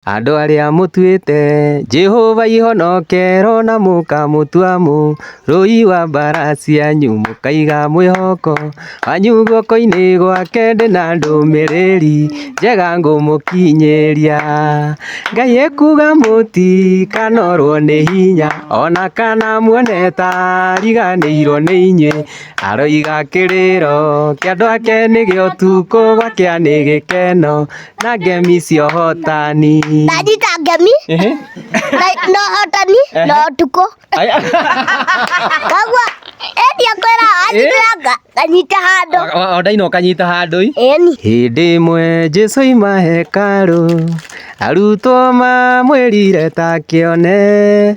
Andũ arĩa mũtuĩte Jehova ihonokero na mũkamũtua mũ rũi wa mbara cianyu mũkaiga mwĩhoko wanyu guoko-inĩ gwake ndĩ na ndũmĩrĩri njega ngũmũkinyĩria. Ngai ekuga mũtikanorwo nĩ hinya ona kana muone ta ariganĩirwo nĩ inyuĩ aroiga kĩrĩro kĩa andũ ake nĩ gĩa ũtukũ gwakĩa nĩ gĩkeno na ngemi cia ũhotani ndanyita ngemi Ehe. na- na ũhotani na ũtukũ Aya. kagua ĩni akwĩra anyitanga nganyita handũ O- o- o ndaina ũkanyita handũ-i ĩni hĩndĩ ĩmwe jesu aima hekarũ arutwo mamwĩrire ta kĩone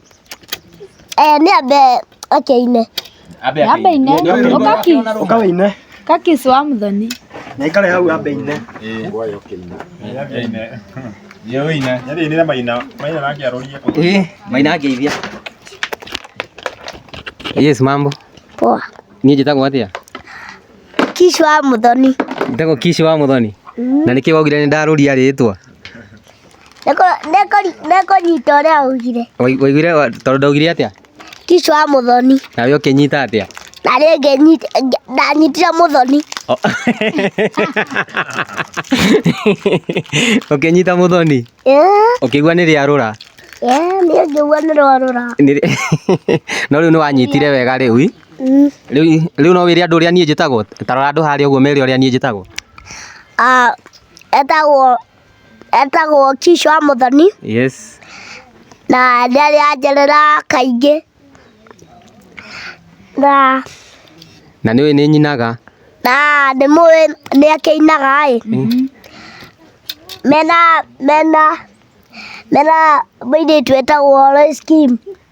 Eh, nĩ ambe akĩine. Ambe Ambe ine. akaine. Ũkaki. Ũka wĩine. Kaki si wa mũthoni. Na ikare hau ambe ine. Eh, maina ngeithia. Yes, mambo. Poa. Niĩ njĩtagwo atĩa? Kishi wa mũthoni. Njĩtagwo Kishi wa Mũthoni. Na nĩkĩ wogire nĩ ndarũria rĩĩtwa? Nĩkũnyita ũrĩa augire. Waiguire tondũ ndaugire atĩa? Kiss wa mũthoni. Na wee ũkĩnyita atĩa? Na niĩ ngĩnyita, ndanyitire mũthoni. Ũkĩnyita mũthoni? Ũkĩigua nĩ rĩa rũra? Niĩ ngĩigua nĩ rwa rũra. No rĩu nĩwanyitire wega rĩu i? Rĩu no wĩre andũ ũrĩa niĩ njĩtagwo? Ta rora andũ harĩa ũguo ũmere ũrĩa niĩ njĩtagwo. Etagwo etagwo Kishu wa Mũthoni yes na nĩ arĩ anjerera kaingĩ na na nĩ ũĩ nĩ nyinaga na nĩ mũĩ nĩ akĩinaga ĩ mena mena mena mũirĩtu etagwo Lois Kim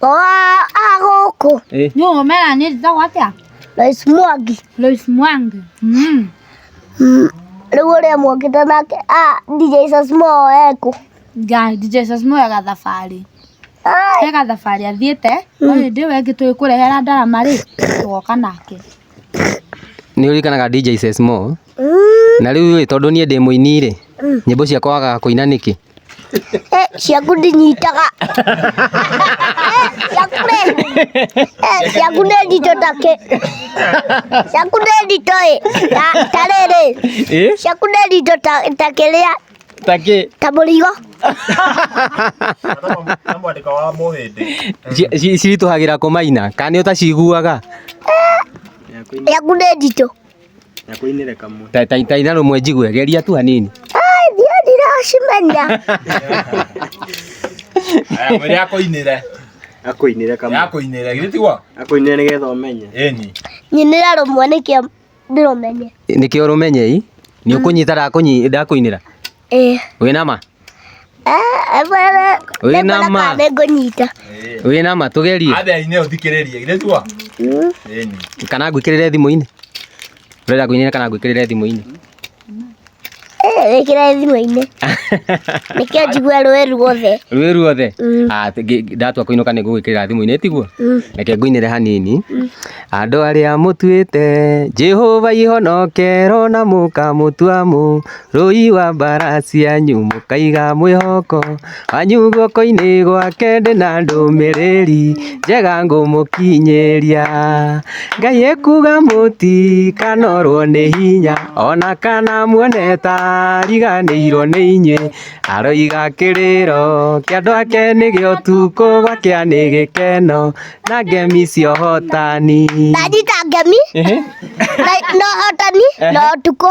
Oa agoko. Eh. Nyo ngomera ni za watia. Lois Mwangi. Lois Mwangi. Mm. Mm. Rĩu ũrĩa mwokĩte nake ah, DJ Sasmo eko ngai DJ Sasmo ega thabarĩ ega thabarĩ athiĩte mm. no hĩndĩ ĩyo ĩngĩ tũĩ kũrehera ndarama rĩ twoka nake nĩ ũrikanaga DJ Sasmo mm. na rĩu rĩ tondũ niĩ ndĩ mũini rĩ mm. nyĩmbo ciakwa wagaga kũina nĩkĩ ciaku ndinyitaga ciakure ciaku nĩ nditũ takĩ ciaku nĩ nditũ ĩ ta rĩrĩ ciaku nĩ nditũ takĩrĩa takĩ ta mũrigo ciritũhagĩra kũmaina kana nĩ ũtaciguaga ciaku nĩ nditũ Nakuinire kamwe. Ta ta ta ina rumwe njigue geria tu hanini. Ai ndio ndiracimenya. Aya mwere akoinire. Akuinire kamwe. Akoinire githĩ tiguo? Akuinire nĩgetha ũmenye. Ĩni. Nyinira rumwe nĩkĩo ndĩrũmenye. Nĩkĩo ũrũmenye i. Nĩ ũkũnyita ndakũnyi ndakũinĩra. Eh. Wĩna ma? Eh, bwana. Wĩna ma? Nĩngũnyita. Wĩna ma tũgerie. Abe ine ũthikĩrĩrie. Ile tua. Mm. Eni. Kana ngwĩkĩrĩre thimũ-inĩ. Ũrenda kũinĩra kana ngwĩkĩrĩre thimũ-inĩ? Wĩkĩra eh, thimũ-inĩ. Nĩkĩo njigua rũĩ ruothe. Rũĩ ruothe? Mm. Ah, ndatua kũinũka nĩ ngũgwĩkĩrĩra thimũ-inĩ tiguo? Mm. Reke ngũinĩre hanini. Mm. Andũ arĩa mũtuĩte Jehova ihonokero na mũkamũtua mũ Rũi wa mbara cianyu mũkaiga mwĩhoko wanyu guoko-inĩ gwake ndĩ na ndũmĩrĩri njega ngũmũkinyĩria. Ngai ekuga mũtikanorwo nĩ hinya ona kana muone ta ariganĩirwo nĩ inyuĩ. Aroiga kĩrĩro kĩa andũ ake nĩ gĩa ũtukũ gwakĩa nĩ gĩkeno na ngemi cia ũhotani. Ndanyita ngemi na ũhotani na ũtukũ.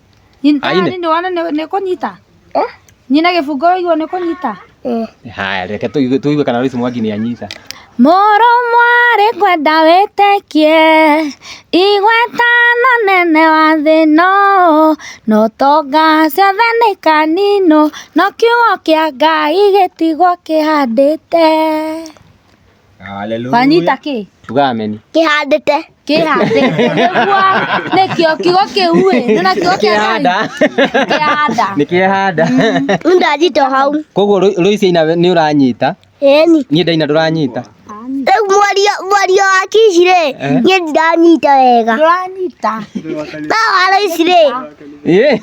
Nyita Aine. nĩ wona nĩ nĩ kũnyita. Eh? Nyina gĩbungo waigua nĩ kũnyita. Eh. haya reke tũigue tũigue kana Lois Mwangi nĩ anyita Mũrũ mwarĩ ngwenda wĩtĩkie igweta no nene wa thĩno no tonga ciothe nĩ kanino no kiugo kĩa Ngai gĩtigwo kĩhandĩte. Hallelujah. Wanyita kĩ? Tuga ameni. Kĩhandĩte. Kĩhandĩte. Nĩguo nĩkĩo kiugo kĩu ĩ. Nĩona kiugo kĩa Kĩhanda. Kĩhanda. Nĩ kĩhanda. Rĩu ndanyita hau. Koguo Rũicia ina nĩ ũranyita? Ĩni. Niĩ ndaina ndũranyita? Rĩu mwario mwario wa Kici rĩ, eh? niĩ ndiranyita wega. Ndũranyita. No wa Rũici rĩ, Eh.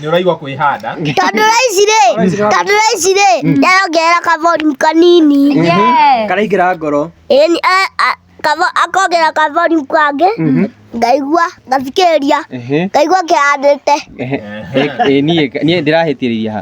nĩũraigua kwĩhanda Tanduraici rĩ, tanduraici rĩ, yarongerera kavolume kanini. karaingĩra ngoro Ĩni, a- a- kavo- akongerera kavolume kangĩ, ngaigua, ngathikĩrĩria, Ehe. ngaigua kĩhandĩte. Ehe. Eh, eh, niĩ niĩ ndĩrahĩtĩrĩria ha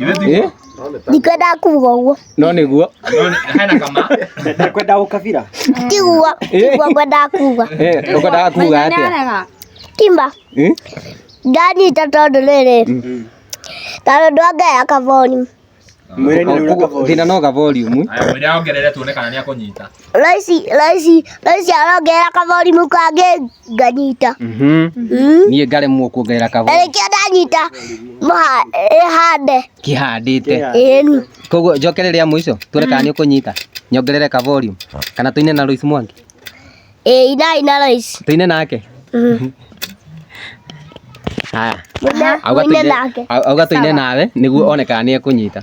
Eh? ndikwendaga kuga ũguo No nĩguo. Hena kama. Ndakwenda ũkabira. tiguo tiguo ngwendaga kuga Eh, ũkwendaga kuga atĩa? kimba Eh? ndanyita tondũ rĩrĩ ta tondũ angaya kaboni Mwĩrĩinĩ nĩ ũreka Thĩna no ga volume. Aya, mwĩra ongerere tuone kana nĩ akũnyita. Raici, raici, raici arongerera kaborimu kangĩ nganyita. Mhm. Mm. niĩ ngaremwo kuongerera Na kabori nĩkĩo ndanyita mũha- ĩhande kĩhandĩte ĩni. koguo njokere rĩa mũico tuone kana nĩ ũkũnyita nyongerere ka volume kana tũine na Lois Mwangi Ĩĩ ina ina raici. tũine nake Mm. haya Mũine- auga mũine tũine- nake. au- auga tũine nawe nĩguo one kana nĩ ekũnyita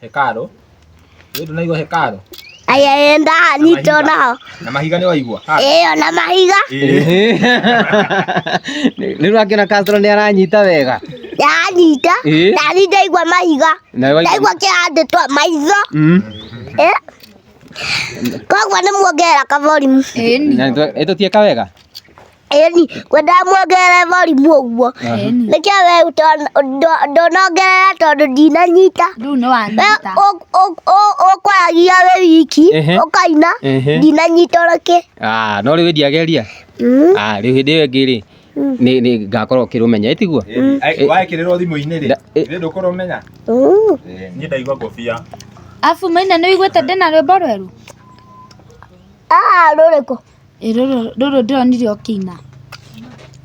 Hekaru. Wewe tunaigwa hekaru. Aya enda ni tona. Na mahiga ni waigwa. Eh, na mahiga. Eh. Ni rwa kina Castro ni aranyita wega. Aranyita. Eh. Na ni ndaigwa mahiga. Ndaigwa kihande twa maitho. Mm. Eh. Kogwa ni muongerera kaborimu. Eh. Eto tieka wega. Ĩni, ngwenda muongerere volume ũguo. Nĩkĩo we ũtona- ndo- ndũnongerera tondũ ndinanyita. Rĩu nĩ We wanyita. ũ- ũ- ũ- ũkwaragia wĩ wiki, Ehe. ũkaina, Ehe. ndinanyita ona kĩ. Ah, no rĩu ĩndĩ ageria Mm. Ah, rĩu hĩndĩ ĩyo ĩngĩ rĩ nĩ nĩ ngakorwo kĩrũmenya ĩtiguo waĩkĩrĩrwo thimũ-inĩ rĩ Nda- ĩ- ĩ ndũkorwo menya Mm. niĩ ndaigua ngobia Afu maina nĩ wĩiguĩte ndĩna rwĩmbo rwerũ? Ah, rũrĩkũ? Ĩ rũrũ rũrũ ndĩronire ũkĩina.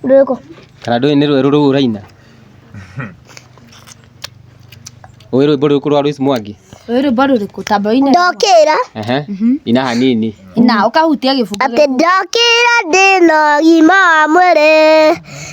Rũrĩkũ? Kana ndũĩ nĩ rwerũ rũu ũraina? Ũĩ rwĩmbo rũrĩkũ rwa Lois Mwangi? Ũĩ rwĩmbo rũrĩkũ? Tamba ũine. Ndokĩra Ehe. Ina hanini. Na ũkahutia gĩbungo. atĩ ndokĩra ndĩna ũgima wa mwĩrĩ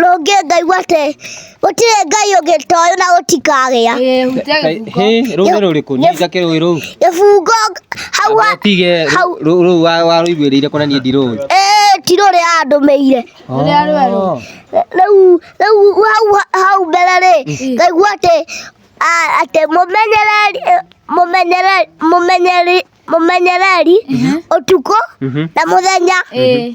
rũngĩ ngaigua atĩ gũtirĩ ngai ũngĩ toyũ na gũtikagĩa Hĩ, rũĩ nĩ rũrĩkũ? Niĩ njake rũĩ rũu. gĩbungo hau wa- Tige hau- rũ- rũu wa- warũiguĩrĩire kũna niĩ ndirũĩ. ĩĩ ti rũrĩa andũmĩire Rũrĩa rwerũ. Oh. rĩu rĩu hau hau mbere rĩ ngaigua atĩ a- atĩ mũmenyereri mũmenyereri mũmenyereri mũmenyereri ũtukũ Mhm. na mũthenya Ĩĩ.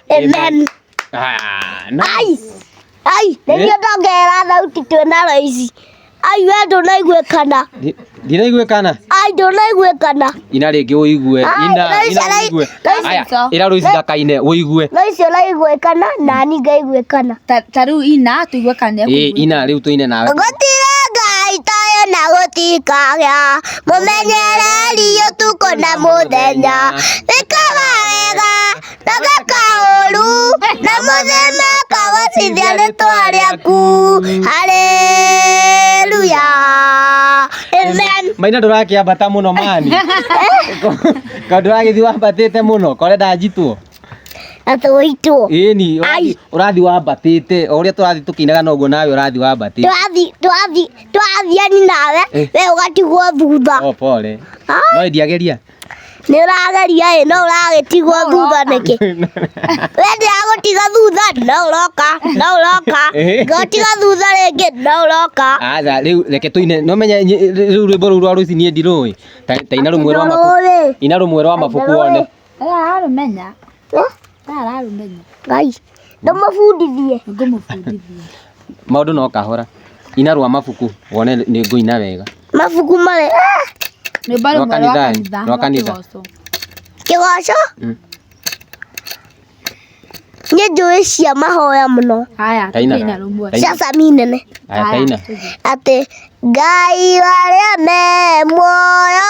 Amen. Ah, nice. Ai. Ai, nĩ niĩ ndongerera thauti twĩ na raici. Ai, we ndũnaiguĩkana. Ndi- Ndiraiguĩkana. Ai, ndũnaiguĩkana. Ina rĩngĩ ũigue. Ai, Ina, Lois ina arai- ũigue. Lois Aya, ico. ĩra Lois ndakaine, ũigue. Raici ũraiguĩkana na niĩ ngaiguĩkana. Ta- ta rĩu ina tũigue kana nĩ Ĩ, ekũigua. Ina rĩu tũine nawe. Gũtirĩ ngai tayo na gũtikagĩa mũmenyereri ũtukũ na mũthenya ĩkaga wega Taka kaoru na muthenya kawacithia nĩ twari aku. Haleluya. Amen. maina ndũrakĩambata mũno mani kaũ ndũragĩthi wambatĩte mũno kore ndanjitwo Atũitwo. ĩni Ai. ũrathi wambatĩte o ũrĩa tũrathi tũkĩinaga noguo nawe ũrathi wambatĩte Twathi twathi twathiani nawe Eh. we ũgatigwo thutha. o pole Ah. no ndiageria Nĩ ũrageria ĩ, no ũragĩtigwo thutha nĩkĩ? We ndiragũtiga thutha, no ũroka, no ũroka. Ngũtiga thutha rĩngĩ, no ũroka. Aca rĩu reke tũine nĩ ũmenye nyi- rĩu rwĩmbo rũu rwa rũici niĩ ndirũĩ ta ta ina rũmwe rwa mabuku Ndũrũĩ. ina rũmwe rwa mabuku one Aya arũmenya. ararũmenya Ngai, ndũmũbundithie. nĩngũmũbundithia maũndũ no kahora ina rwa mabuku wone nĩ ngũina wega Mabuku marĩ. Ah! rwĩmbo rũmwe rwa kanitha kanitha rwa kanitha kĩgoco. Kĩgoco. Mm. Nĩ njũĩ cia mahoya mũno. haya Taina. tũina rũmwe Taina. Cia sami nene. aya Haya, taina tũthiĩ. Atĩ Ngai warĩa me muoyo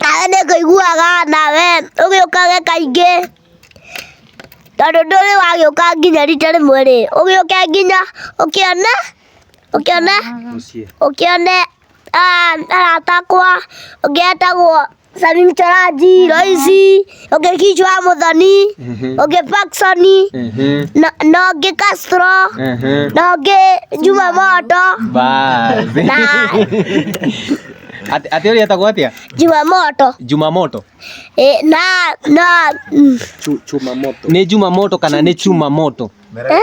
Nawe nĩ kũiguaga nawe ũgĩũkage kaingĩ tondũ ndũrĩ wagĩũka nginya rita rĩmwe rĩ, ũgĩũke nginya ũkĩone, ũkĩone, ũkĩone arata akwa ũngĩ etagwo Salim Choranji, Loici. ũngĩ kichwa wa mũthoni ũngĩ paksoni na na ũngĩ kastro na ũngĩ juma moto Basi. na Ati- ati ũrĩa etagwo atĩa juma moto jumamoto Eh, na na mm, nĩ jumamoto kana nĩ chumamoto eh?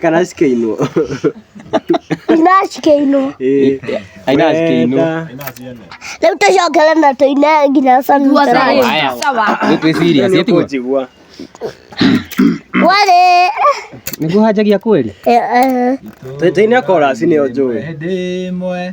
kana cikĩinwo ina cikĩinwo aina cikĩinwo rĩu tũcokere na tũine nginya sunrise Haya. Nĩ twĩ serious, nĩ tiguo? njigua warĩ nĩguo hanjagia kweli Eh, eh. tũine korasi nĩyo njũĩ hĩndĩ ĩmwe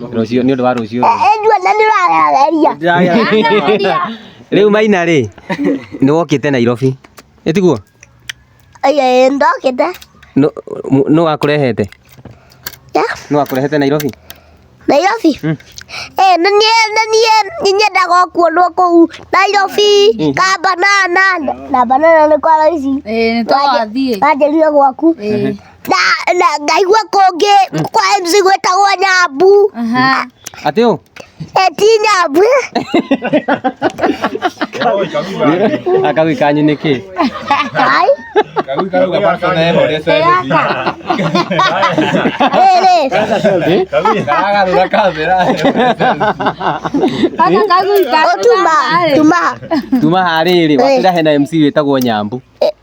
rũciũ nĩ ũndũ wa rũciũ Nduona nĩ ũrararia. Ndĩragera. rĩu maina rĩ nĩ wokĩte nairobi ĩtiguo Ĩĩ, ndokĩte. nũ wakũrehete Ya, nũ wakũrehete nairobi Nairobi. Mm. Eh, na niĩ na niĩ nĩ nyendaga kuonwo kũu Nairobi, Mm. ka banana. Na banana nĩ kwa raici. Ĩĩ, nĩ twathiĩ. Wanjĩrire gwaku. Ĩĩ. na na ngaigua kũngĩ kwa MC gwĩtagwo nyambu Aha. Atĩ ũ? Eh, ti nyambu Akawi kanyu nĩ kĩ? ai rĩrĩ Kaka kagui kaka. ũtuma tuma Tuma harĩrĩ, wakĩra hena MC wĩtagwo Nyambu.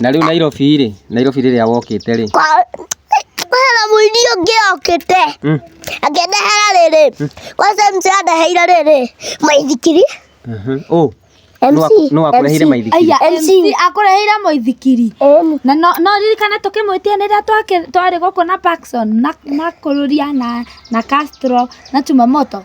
Na rĩu Nairobi rĩ, Nairobi rĩrĩa wokĩte rĩ, Hena mũini ũngĩ okĩte Mm. akĩndehera rĩrĩ kwanza mzee andeheire rĩrĩ maithikiri mhm, ũ, nũ aku- nũ akũrehire maithikiri? Aya, MC. MC akũreheire mũithikiri MC na no no ririkane tũkĩmwĩtia nĩ rĩrĩa twake- twarĩ gũkũ na Paxson na na kũrũria na na Castro na Chumamoto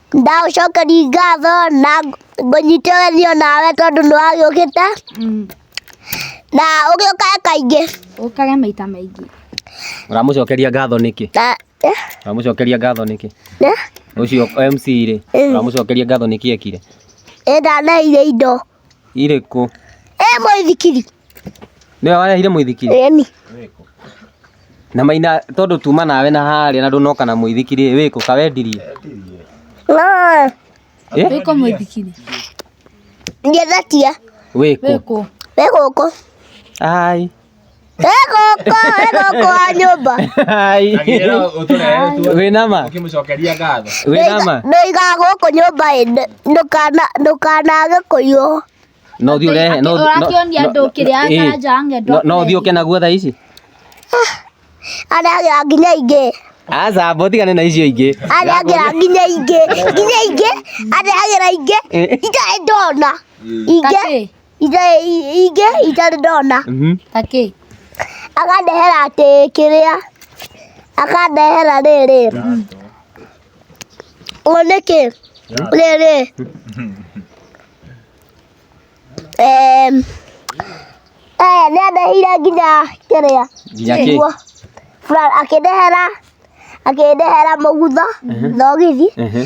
ndagũcokeria ngatho na ngũnyitithanio nawe tondũ nĩ wagĩũkĩte Mm. na ũgĩũkaga kaingĩ Ũkage maita maingĩ. Ũramũcokeria ngatho nĩkĩ? na eh, Ũramũcokeria ngatho nĩkĩ? eh, Ũcio MC rĩ, Eh. ũramũcokeria ngatho nĩkĩ ekire? ĩndanaire indo Irĩkũ? Ĩ mũithikiri. Nĩwe warehire mũithikiri? Ĩni. Na Maina tondũ tuma nawe na harĩa na ndũnoka na mũithikiri ĩ, wĩkũ? Ka wendirie? Naa. Ĩ? Wĩkũ mũithikiri? Ngethetia. Wĩkũ? Wĩkũ. Wĩ gũkũ. Ai. egũkũ egũkũ wa nyũmba wĩnama ũkĩmũcokeria ngatho wĩnama noiga gũkũ nyũmba ĩ ndũkanage kũiywo no ũthiĩ ũrehe no- no- ũrakĩonia andũ no- kĩrĩa ĩĩ. karanja wa ng'endo No- no ũthiĩ ũke naguo thaa ici arĩa nginya ingĩ aca mbo tigane na icio ingĩ arĩa nginya nginya ingĩ nginya ingĩ arĩa nginya ingĩ itarĩ ndona ingĩ Tatĩ. ingĩ itarĩ ndona mhm. takĩ akandehera atĩ kĩrĩa akandehera rĩrĩ ũũ nĩkĩ rĩrĩ aya nĩ andehire nginya kĩrĩa nĩguo akĩndehera akĩndehera mũgutho thogithi mhm. mhm.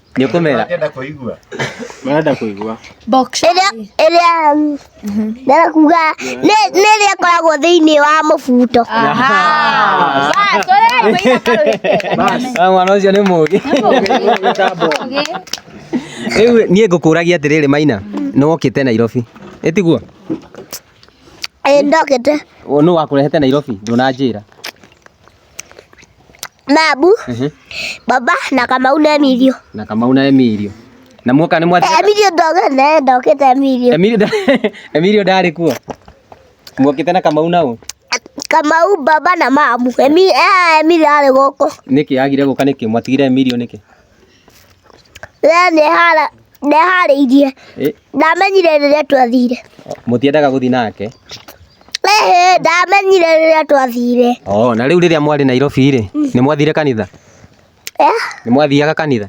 Nĩ ũkũmera. Ngenda kũigua. Marenda kũigua. Box. Ĩrĩa ĩrĩa ndĩrenda kuga nĩ nĩ ĩrĩa ĩkoragwo thĩinĩ wa mũbuto. Mwana ũcio nĩ mũgĩ. Rĩu niĩ ngũkũragia atĩrĩrĩ Maina, nĩ wokĩte Nairobi. Ĩtiguo? Ĩĩ ndokĩte. Nũ wakũrehete Nairobi? Ndũnanjĩra. Nabu, Ehe. baba na Kamau na Emilio. Na Kamau na Emilio. Na muoka nĩ Eh, mwathire. Emilio ndogete naye ndokete Emilio. Emilio nda- Emilio ndarĩ kuo. Muokĩte na Kamau nao. Kamau baba na mamu. Emi eh Emilio arĩ goko. Nĩkĩ agire gũka nĩkĩ? Mwatigire Emilio nĩkĩ? Rĩrĩa ndehara ndeharĩirie Eh. ndamenyire rĩrĩa twathire mũtiendaga gũthiĩ nake Ĩhĩ, ndamenyire rĩrĩa twathire oh, na rĩu rĩrĩa mwarĩ nairobi rĩ nĩ mwathire kanitha Eh, nĩ mwathiaga kanitha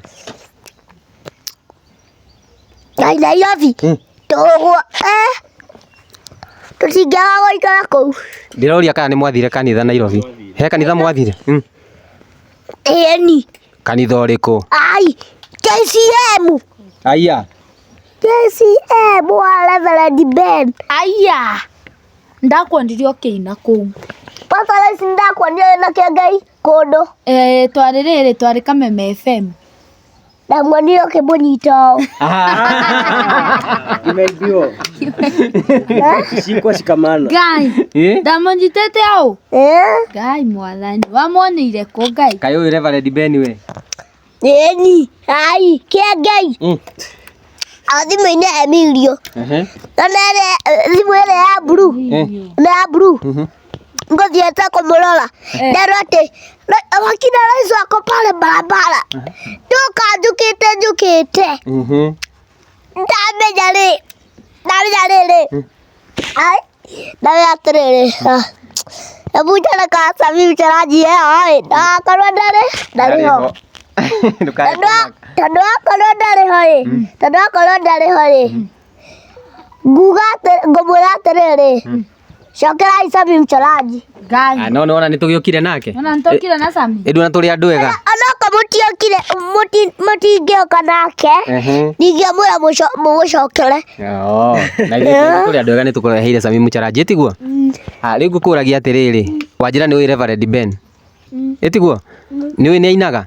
na Nairobi Hmm. tũgwo eh, tũtingĩaga gũikara kũu ndĩroria kana nĩ mwathire kanitha nairobi he kanitha mwathire mm. ĩni Kanitha ũrĩkũ? Ai, KCM. Aya. KCM wa Reverend Ben. Aya. Ndakuonirie ũkĩina kũu. Papa Lesi ndakuonire wĩna kĩongai kũndũ. Eh, twarĩ rĩrĩ twarĩ Kameme FM. Ndamuonire ũkĩmũnyita ũũ. Imeibiwa. Shikwa shikamana. Ngai. Eh? Ndamũnyitĩte ũũ. Eh? Ngai mwathani. Wamuoneire kũ Ngai? Kaĩ ũyũ Reverend Ben we? Ĩni, ai, kĩa Ngai. Mm. A thimũ-inĩ Emilio. Ehe. Na nĩ ĩrĩa- thimũ ĩrĩa ya blue. Eh. Nĩ ya blue. Mhm. ngothiete kumurora ndero ati wakina rais wako pale barabara nduka njukite njukite Mhm. ndamenya ri ndamenya riri Ai, ndawe atĩrĩrĩ ebu njana kasa mimi ndarajia ai ndakorwo ndarĩ ndarĩ ho Ndũkae Tondũ wa- kũmaka. tondũ wakorwo ndarĩ ho rĩ tondũ wakorwo ndarĩ ho rĩ nguga atĩ- ngũmwĩra atĩrĩrĩ cokera aica mimi ndarajia Ngai. Ah, no nona nitugiukire nake Ona nitokire na Sami. indu na turi andu ega Onoko mũtiokire mũti- mũtingĩoka nake Ehe. ndingĩamwĩra mũco- mũgũcokere Oo, na ithuĩ tũrĩ andũ ega nĩ tũkũreheire Sami Mũcharanjĩ tiguo Ah, rĩu ngũkũragia atĩrĩrĩ wanjĩra nĩ ũĩ Reverend Ben ĩtiguo nĩ ũĩ nĩ ainaga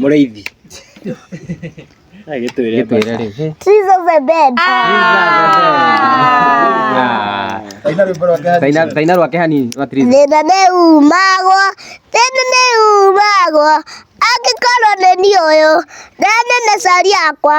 mũrĩithi gĩtwĩre rĩu Trees of the dead. taina rwake hanini rwa tiriza Thĩna nĩ umagwo, thĩna nĩ umagwo, angĩkorwo nĩ niĩ ũyũ, na nĩ na cari yakwa,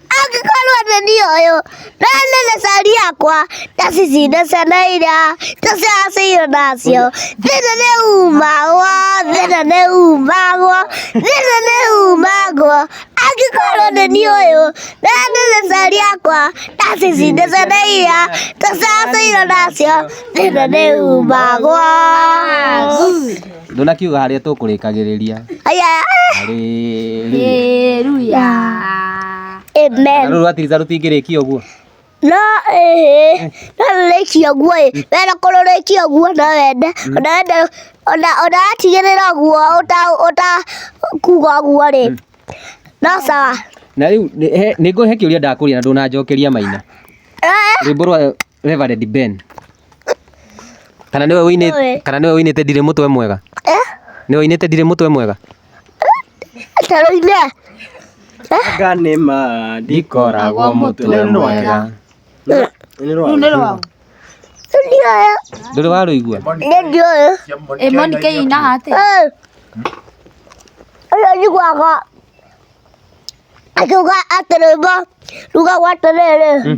angĩkorwo nĩ niĩ ũyũ na nene cari yakwa ndacicinde ciana iria tũcacĩirwo nacio thĩna nĩ umagwo thĩna nĩ umagwo thĩna nĩ umagwo angĩkorwo nĩ niĩ ũyũ na nene cari yakwa ndacicinde ciana iria tũcacĩirwo nacio thĩna nĩ umagwo Ndũnakiuga harĩa tũkũrĩkagĩrĩria. Haleluya. Amen. Rũrũ rwa Tiriza rũtingĩrĩkia ũguo. No eh no rĩkia guo eh wena ko rĩkia guo no wende ona wende ona ona atigĩrĩra guo uta uta kuga guo rĩ no sawa Na rĩu nĩ ngũhe kĩũria ndakũria na ndũnanjokeria maina. Eh. Rwĩmbo rwa Reverend Ben. Kana niwe wini Nĩwe. kana niwe winite ndire mutwe mwega. Niwe winite ndire mutwe mwega. Taroine. Anga nĩ ma ndikoragwo mũtwe mwega. Rĩu nĩ rwao. Ndioyo. Nduri waruigua. Ndioyo. Ĩ Monica ĩinaga atĩa? Eh. Ũyũ njiguaga akiuga atĩ rwĩmbo rugagwo atĩrĩrĩ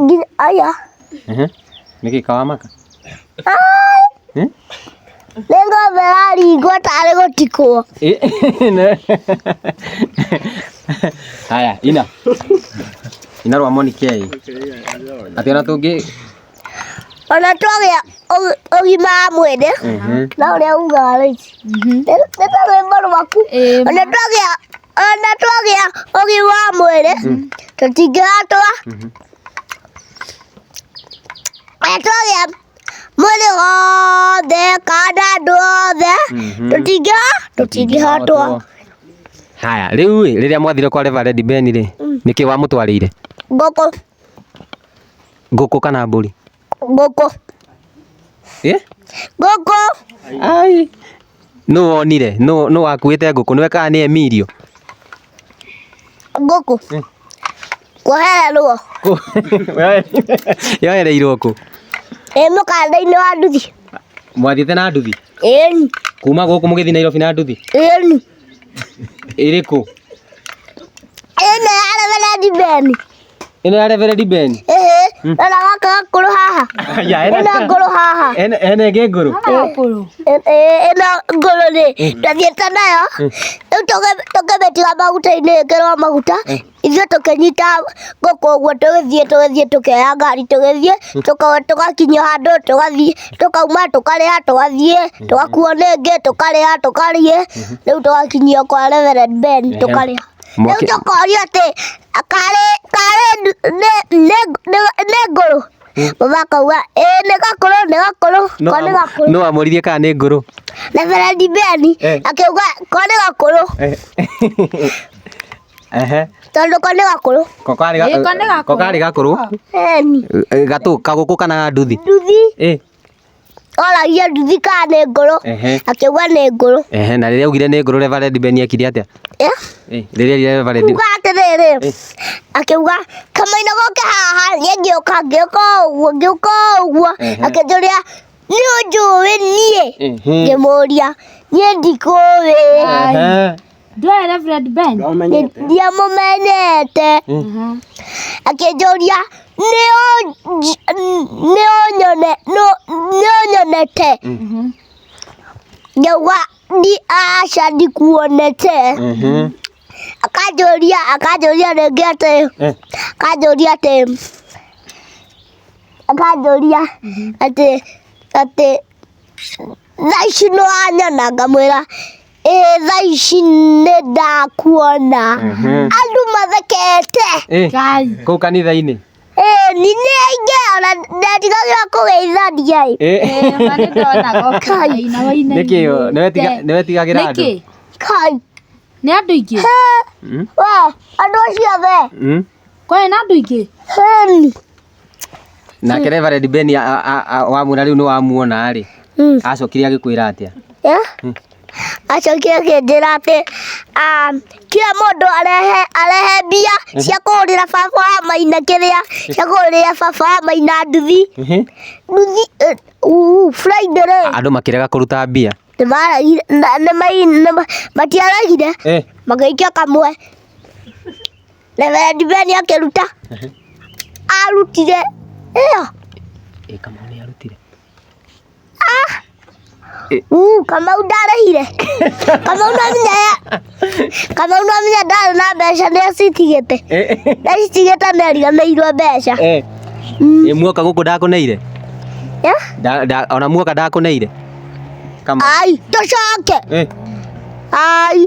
Nginya aya. Ehe. Nĩkĩ kawamaka? Eh? Nĩ ng'ombe yaringwo tarĩ gũtikwo. Eh, ne- Haya, ina. Ina rwa moni kei. Ati ona tũngĩ. Ona twagĩa ũg- ũgima wa mwĩrĩ. Ehe. Na ũrĩa ugaga rĩu. Nĩ nĩ ta rwĩmbo rwaku. Ĩĩ, Ona twagĩa ona twagĩa ũgima wa mwĩrĩ tũtingĩhootwo ona twagĩa mwĩrĩ wothe kana andũ othe tũtingĩho tũtingĩhootwo haya rĩu ĩ rĩrĩa mwathire kwa reverend ben rĩ nĩkĩ wamũtwarĩire ngũkũ ngũkũ kana mbũri Ngũkũ. Ĩ? Ngũkũ. Ai. Nũ wonire? Nũ nũ wakuĩte ngũkũ? Nĩwe kana nĩ Emilio? Ngũkũ. Kũhererwo. Yoereirwo kũ? Ĩ mũkanda-inĩ wa nduthi. Mwathiĩte na nduthi? Ĩni. Kuma gũkũ mũgĩthiĩ Nairobi na nduthi? Ĩni. Ĩrĩ kũ? Ĩno ya reverend Ben. ino ya reverend ben ehe hmm. na gaka nguru haha ya ina nguru haha ene ene ge nguru ina nguru ni ndathiĩte nayo rĩu tũkĩmĩtiga maguta-inĩ ĩkĩrwo maguta ithuĩ tũkĩnyita ngũkũ ũguo tũgĩthiĩ tũgĩthiĩ tũkĩoya ngari tũgĩthiĩ tũgakinya handũ tũgathiĩ tũkauma tũkarĩa tũgathiĩ tũgakuo nĩ ĩngĩ tũkarĩa tũkarĩe rĩu tũgakinyia kwa reverend ben tũkarĩa Mwaki... Rĩu tũkorio atĩ karĩ karĩ nĩ ngũrũ baba akauga ĩĩ nĩ gakũrũ nĩ gakũrũ ko nĩ gakũrũ no amũririe kana nĩ ngũrũ na Ferandi Beni Eh. akiuga ko nĩ gakũrũ ehe tondũ ko nĩ gakũrũ ko karĩ Ĩĩ, ko nĩ ga- gakũrũ. ko karĩ gakũrũ Beni Eh, gatũ kagũkũ kana ga nduthi nduthi eh Oragia nduthi kana nĩ ngũrũ, Ehe. akĩuga nĩ ngũrũ. Ehe, na rĩrĩa augire nĩ ngũrũ Reverend Ben ekire atĩa? Eh? Eh, Rĩrĩa augire Reverend Kuga atĩrĩrĩ, akĩuga kamaina goke haha, niĩ ngĩũka ngĩũka ũguo ngĩũka ũguo, Ehe. akĩnjũria nĩ ũnjũĩ niĩ? Ehe. Ngĩmũria niĩ ndikũĩ. Ehe. Ndũĩ Reverend Ben? Ndamenyete. ndiamũmenete akĩnjũria nĩ ũnyone nĩ ũnyonete ngĩuga ndi aca ndikuonete Mhm. akanjũria akanjũria rĩngĩ atĩ Eh. akanjũria atĩ akanjũria atĩ atĩ thaa ici nĩwanyona ngamwĩra ĩ thaa ici nĩ ndakuona andũ mathekete Eh, kũu kanitha-inĩ ĩ ni nĩ aingĩ ona ndatigagĩra kũgeithania ĩ Eh, nĩkĩ ũ- nĩwetiga- nĩwetigagĩra andũ Nĩkĩ? kai Nĩ andũ aingĩ? he Mm, we andũ acio othe mm. Kwani nĩ andũ aingĩ? heni Nake Reverend Ben a- a- a- a- wamwĩra rĩu nĩ wamuona rĩ, Mm. acokire agĩkwĩra atĩa? Yeah? acokire akĩnjĩra atĩ ah, kila mũndũ arehe arehe mbia cia kũhũrĩra baba wa maina kĩrĩa cia kũhũrĩra baba wa maina nduthi nduthi eh, uu, friday rĩ Andũ makĩrega kũruta mbia. nĩmaragire na- nĩmai- nĩma- matiaragire Eh, magĩikia kamwe Reverend Ben akĩruta Ehe. arutire ĩyo Ĩ kamau nĩ arutire. uu kamau ndarĩhire kamau namenya kamau namenya ndarĩ na mbeca nĩ acitigĩte nĩ acitigĩte nĩ ariganĩirwo mbeca Eh. Mm. Ĩ muoka gũkũ ndakũneire. Yeah. Nda- nda- Ona muoka ndakũneire. Kamau. ai tũcoke Eh. ai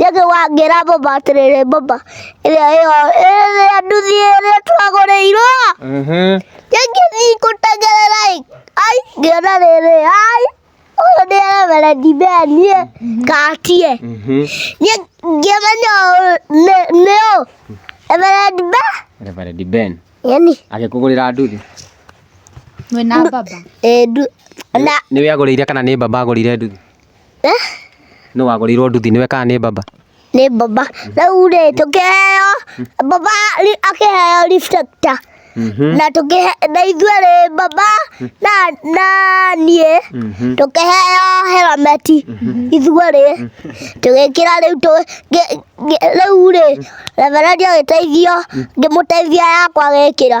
Rĩngĩ wangĩra baba atĩrĩrĩ baba ĩrĩa ĩyo ĩrĩa nduthi ĩrĩa twagũrĩirwo Mhm. ĩngĩthiĩ gũtengerera ĩ ai ngĩona rĩrĩ ai ũyũ nĩ reverendi Ben niĩ ngatie Mhm. niĩ ngĩmenya ũyũ nĩ- nĩ ũ reverendi Ben Reverend Ben yani agĩkũgũrĩra nduthi Mwĩna baba. ĩndu na nĩwe agũrĩire kana nĩ baba agũrĩire nduthi Eh? Nĩ wagũrĩirwo nduthi nĩwe kana nĩ baba? Nĩ baba. Rĩu rĩ tũkĩheo baba ri- akĩheo reflector na tũkĩhe na ithuĩ rĩ baba na na niĩ tũkĩheo helmet ithuĩ rĩ tũgĩkĩra rĩu tũ ngĩ- ngĩ- rĩu rĩ reverendi agĩteithio ngĩmũteithia yakwa agĩkĩra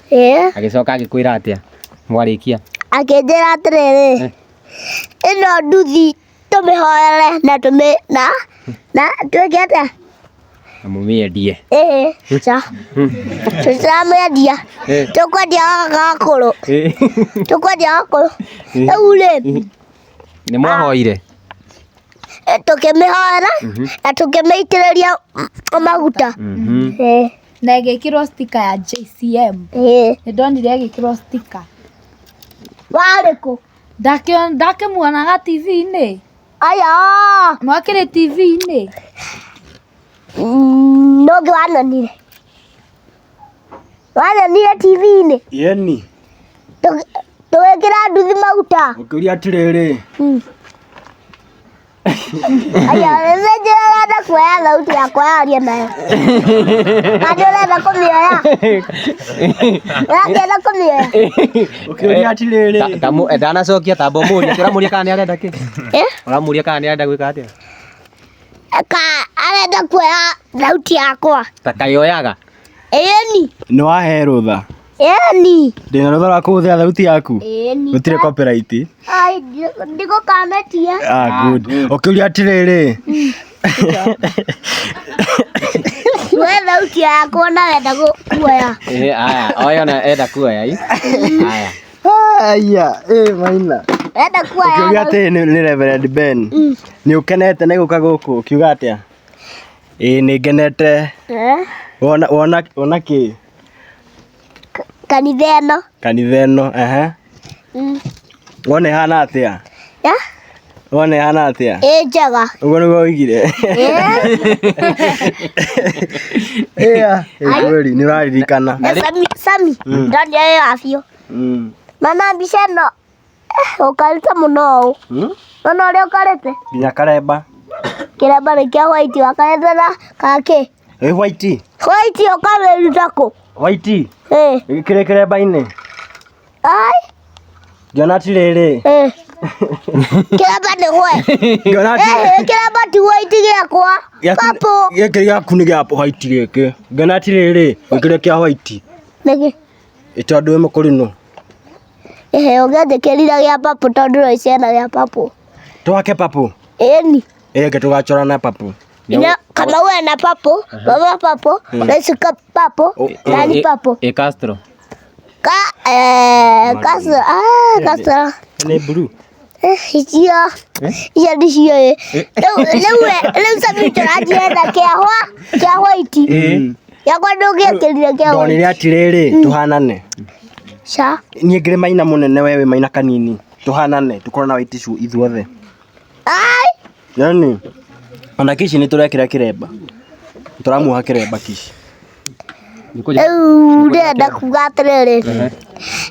Ĩĩ. Agĩcoka agĩkwĩra atĩa mwarĩkia? Akĩnjĩra atĩrĩrĩ, Eh. ĩno nduthi tũmĩhoere na tũmĩ na na twĩke atĩa? Na mũmĩendie. Ĩĩ. Ca. Tũtiramwendia. Eh. Tũkwendia gakũrũ. Eh. Tũkwendia gakũrũ. Eh. Rĩu rĩ, Nĩ mwahoire? eh, tũkĩmĩhoera na tũkĩmĩitĩrĩria mm, maguta. Mhm. Ĩĩ. Na ĩgĩkĩrwo sticker ya JCM. Ĩĩ. Nĩ ndonire ĩgĩkĩrwo sticker. Warĩ kũ? Ndakĩmuonaga TV-inĩ. Aya! Mwakĩrĩ TV-inĩ. Mm, Nũngĩ wanonire. Wanonire TV-inĩ. Yeni. Tũgĩkĩra nduthi maguta. Ũkĩũria atĩrĩrĩ. Mm. Aya, nĩ njĩra ũrenda kuoya thauti yakwa yaria nayo. Kandi ũrenda kũmĩoya. Ũrakĩenda kũmĩoya. Ũkĩũria atirĩrĩ. Ta- ta mũ- eh, ndanacokia tamba ũmũrie atĩ ũramũria kana nĩ arenda kĩ Eh? ũramũria kana nĩ arenda gwĩka atĩa Ka arenda kuoya thauti yakwa. ta kayoyaga Ĩni. Nĩ wahe rũtha. Eni. Ndĩna rũtha rwa kũhũthĩra thauti yaku? Eni. Gũtirĩ copyright? Ai, ndigũkametia. Ah, good. Ũkĩũria atĩrĩrĩ. We thauti yakwa na wenda kuoya. Eh, aya, oya na enda kuoya i. Aya. Aya, eh maina. Wenda kuoya. Ũkĩũria atĩrĩ nĩ nĩ Reverend Ben. Mm. Nĩ ũkenete nĩ gũka gũkũ ũkiuga atĩa? Ĩĩ nĩ ngenete. Eh? Wona wona wona kĩ? Kanitha ĩno. Kanitha ĩno, ehe. Mm. Wona ĩhana atĩa? Ya? Wona ĩhana atĩa? Ĩ njega. Ũguo nĩguo oigire? Ĩya, ĩ kweli, nĩ ũraririkana. Sami, Sami, ndonire wĩ wa biũ. Mm. Mama mbica ĩno Ũkarĩte mũno ũũ. Hmm? Ona ũrĩa ũkarĩte. Nginya karemba. Kĩremba nĩ kĩa white wakarĩte na kakĩ. Ĩ white. White ũkarĩruta kũ? White. Eh. Kĩrĩ kĩremba-inĩ. Ai. Ngĩona ti rĩrĩ. Eh. Kĩremba nĩ hwe. Ngĩona ti. Eh, kĩremba ti white gĩakwa. Kapo. Gĩkĩ gĩaku nĩ gĩa white gĩkĩ. Ngĩona ti rĩrĩ. Gĩkĩrĩ kĩa white. Nĩkĩ? Ĩta andũ ĩmwe kũrĩ no. Ehe, ũngĩanjĩkĩrire gĩa papũ tondũ ũrĩ ciana gĩa papũ. Twake papũ? Ĩni. Ĩke tũgacora na papũ. Ina kama uwe na papo, mama papo, nashika papo, nani papo. E Castro. Ka eh Castro. Ah, Castro. Ni blue. Icio. Icio nĩcio ĩ. Rĩu rĩu we, rĩu Sami tũrathiĩ na kĩahwa, kĩahwa iti. Yakwa ndũngĩakĩrire kĩahwa. ndonire atirĩrĩ tũhanane Ca. niĩ ngĩrĩ maina mũnene we wĩ maina kanini tũhanane tũkorwo na waiticu ithuothe Ai. yani ona kici nĩ tũrekĩra kĩremba tũramuoha kĩremba kici rĩu ndĩrenda kuga atĩrĩrĩ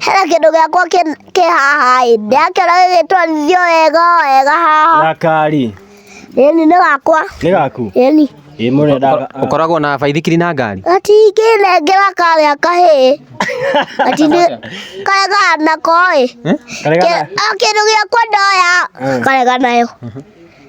hena kĩndũ gĩakwa kĩ- kĩ haha ĩ ndĩrakĩona gĩgĩtwarithio wega wega haha gakari ĩni nĩ gakwa nĩ gaku ĩni ĩ mũrenda Ũkoragwo na baithikiri na ngari? gatingĩnengera karĩa kahĩ gatinĩ karega nako ĩ Karega Kĩ- o kĩndũ gĩakwa ndoya karega nayo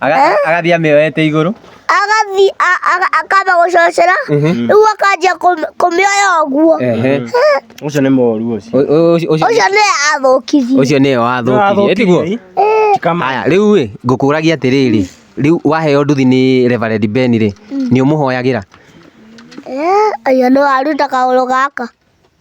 Aga- agathiĩ amĩoete igũrũ agathi a- aga- akamba gũcocera rĩu akanjia kũm- kũmĩoya ũguo Ehe. Ũcio nĩ moru ũcio. Ũ- ũ- ũcio- ũcio ũcio nĩ athũkirie ũcio nĩwe wathũkirie tiguo Kama haya rĩu ĩ ngũkũragia atĩrĩrĩ rĩu waheo nduthi nĩ reverend ben rĩ nĩ ũmũhoyagĩra Eh, ũyũ nĩ waruta kaũrũ gaka